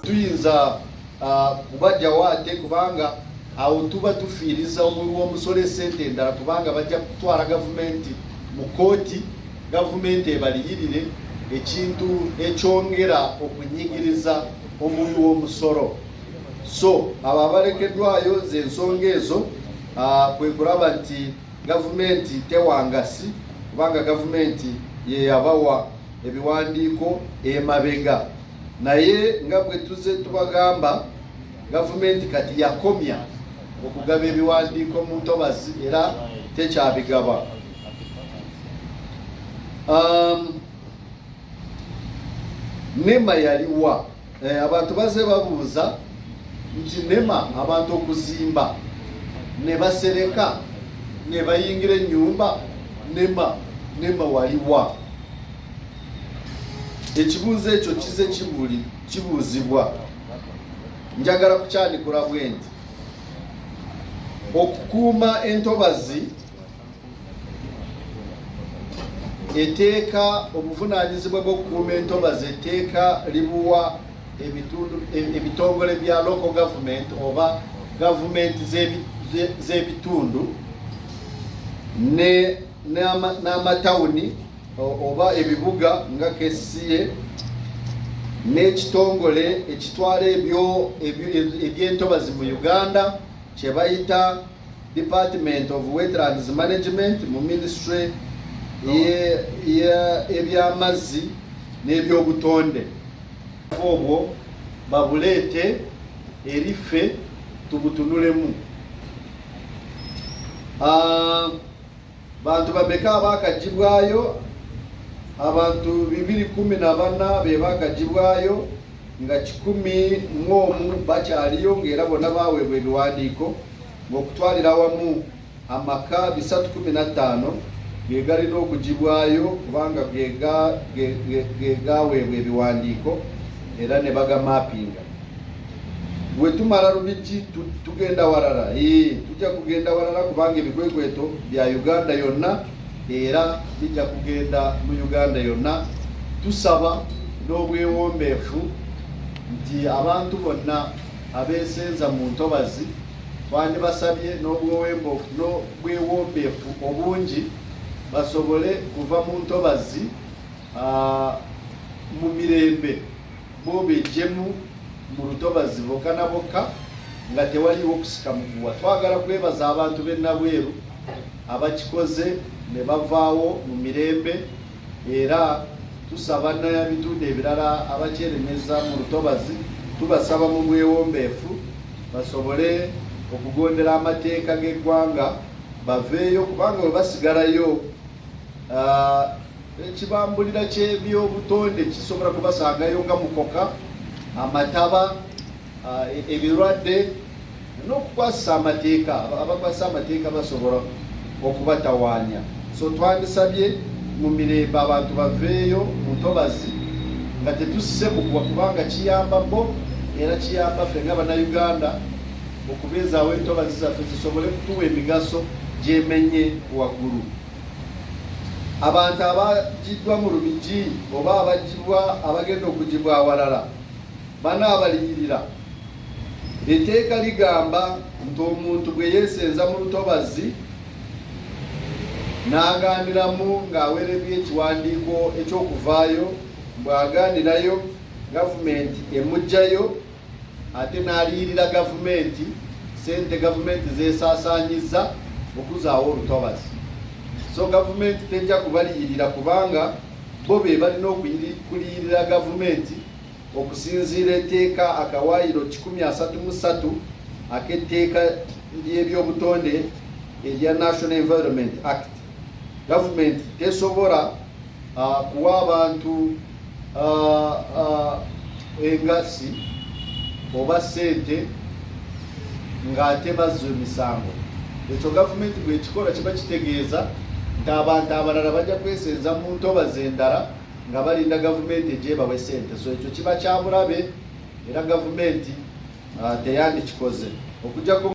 tuyinza ah, kubajjawo ate kubanga awo tuba tufiiriza omuwi w'omusolo esente endala kubanga bajja kutwala gavumenti mu kooti gavumenti ebaliyirire ekintu ekyongera okunyigiriza omuwi w'omusolo so abo abalekeddwayo ze ensonga ezo kwe kulaba nti gavumenti tewangasi kubanga gavumenti yeyabawa ebiwandiiko emabega naye nga bwe tuze tubagamba gavumenti kati yakomya okugaba ebiwandiiko mu ntobazi era tekyabigaba um, nema yaliwa Eh, abantu baze babuuza nti nema abantu okuzimba ne basereka ne bayingira ennyumba nema nema waliwa ekibuuzo ekyo kize kibuli kibuuzibwa njagala kukyanikula bwenti okukuuma entobazi eteeka obuvunaanyizibwa bw'okukuuma entobazi etteeka libuwa ebitongole bya local government oba gavumenti z'ebitundu n'amatawuni oba ebibuga nga kesiye n'ekitongole ekitwala ebyentobazi mu uganda kye bayita Department of Wetlands Management mu ministry eby'amazzi n'ebyobutonde obwo babuleete eri ffe tubutunulemu ah, Bantu bameka abaakaggyibwayo? Abantu bibiri kkumi na bana be baakaggyibwayo nga kikumi mu omu bakyaliyo ng'era bonna baaweebwa ebiwandiiko ng'okutwalira wamu amaka bisatu kumi na ttaano ge galina okugibwayo kubanga ge gaaweebwa ebiwandiiko era ne bagamaapinga. bwe tumala Lubigi tugenda walala ee tujja kugenda walala kubanga ebikwekweto bya Uganda yonna era bijja kugenda mu Uganda yonna tusaba n'obwewombeefu nti abantu bonna abeesenza mu ntobazi twandibasabye n'obwewombeefu obungi basobole kuva mu ntobazi mu mirembe Bo bejjemu mu lutobazi bokka na bokka nga tewaliiwo kusika muguwa. Twagala kwebaza abantu b'e Nabweru abakikoze ne bavaawo mu mirembe era tusaba n'ebitundu ebirala abakyerenyeza mu lutobazi tubasaba mu bwewombeefu basobole okugondera amateeka g'eggwanga baveeyo kubanga bwe basigalayo ah, Ekibambulira ky'ebyobutonde kisobola kubasangayo nga mukoka, amataba, e, ebirwadde n'okukwasisa amateeka. Abakwasisa amateeka basobola okubatawaanya. So twandisabye mu mirembe abantu baveeyo mu ntobazi nga tetusse mukuba kubanga kiyamba bo era kiyamba ffe nga bannayuganda okubeezaawo entobazi zaffe zisobole kutuwa emigaso gyemenye waggulu. abantu abagiddwa mu Lubigi oba abagibwa abagenda okugibwa awalala banaabaliyirira. Etteeka ligamba nti omuntu bwe yeesenza mu lutobazzi n'agaaniramu ng'aweereddwa ekiwandiiko eky'okuvaayo mbw'agaanirayo gavumenti emuggyayo ate n'aliyirira gavumenti sente gavumenti zesaasaanyizza okuzaawo olutobazi so gavumenti tejja kubaliyirira kubanga bo be balina okuliyirira gavumenti okusinziira etteeka akawaayiro 133 ak'etteeka ly'ebyobutonde erya national environment act gavumenti tesobola uh, kuwa abantu uh, uh, engassi oba ssente ng'ate bazza emisango ekyo gavumenti bwekikola kiba kitegeeza nti abantu abalala bajja kwesenza mu ntobazi endala nga balinda gavumenti egyebawe ssente so ekyo kiba kyabulabe era gavumenti uh, teyandikikoze okujjako